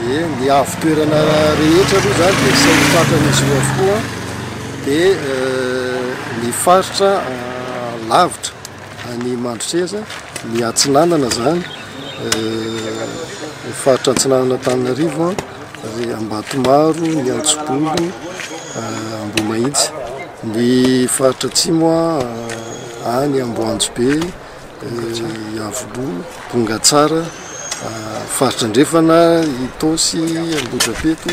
Dia ny avo toerana rehetra aloha izany dia sain'ny fatran'izy io avokoa dia ny faritra lavitra any Mandrotreza ny atsinanana izany ny faritra atsinanana Antananarivo dia Ambatomaro, ny Antsibolo, Ambohimahitsy, ny faritra atsimo any Amboanjobe Iavoloha, Bongatsara, Faritra Andrefana, Itaosy, Ambohidrapeto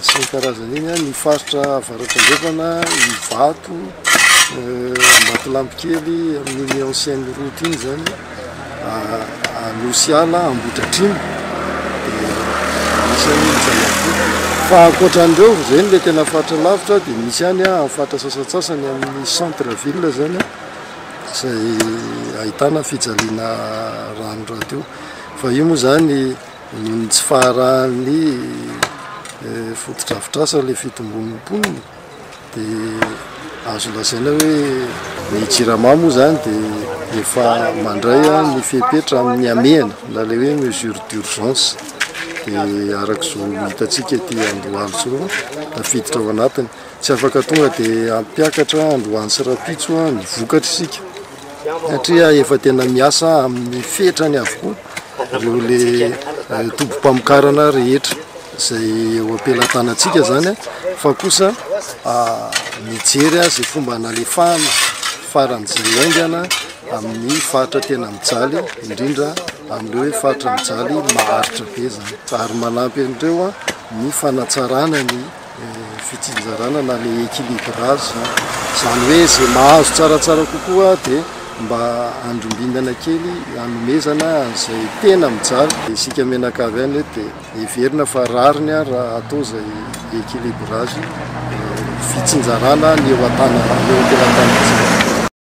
sy ny karazany iny, ny Faritra Avaratra Andrefana, Ivato, Ambatolampikely amin'iny ancienne route iny izany, Anosiala, Ambohidratrimo, anisan'ny zana-boto. Fa ankoatran'ireo, ireny ilay tena faritra lavitra, dia misy ihany faritra sasantsasany amin'ny centre ville izany. izay ahitana fijaliana rano rahateo fa io moa izany noho ny tsy faharahan'ny fotodrafitrasa ilay fitombon'ny mponina dia azo lazaina hoe ny jirama moa izany dia efa mandray ny fepetra amin'ny hamehana na ilay hoe mesure d'urgence dia araka izao hitantsika ety Andohalo izao tafiditra ao anatiny Tsy afaka tonga dia hampiakatra androany sy rapitso ny vokatr isika satria efa tena miasa amin'ny fetrany avokoa ireo le tobom-pamokarana rehetra izay eo ampelatanantsika zany fa kosa mijery azy fomba analefahana faran'izay aingana amin'ny faritra tena mijaly indrindra amin'ireo hoe faritra mijaly maharitra be zany ary manampy an'ireo ny fanatsarana ny fitsinjarana na le équilibrage izany hoe izay mahazo tsaratsara kokoa dia mba andrombinana kely anomezana an'izay tena mijaly dia isika mianakavy any dia heverina fa rariny ary raha atao izay équilibrage fitsinjarana ny eo an-tana eo am-pelantanantsika.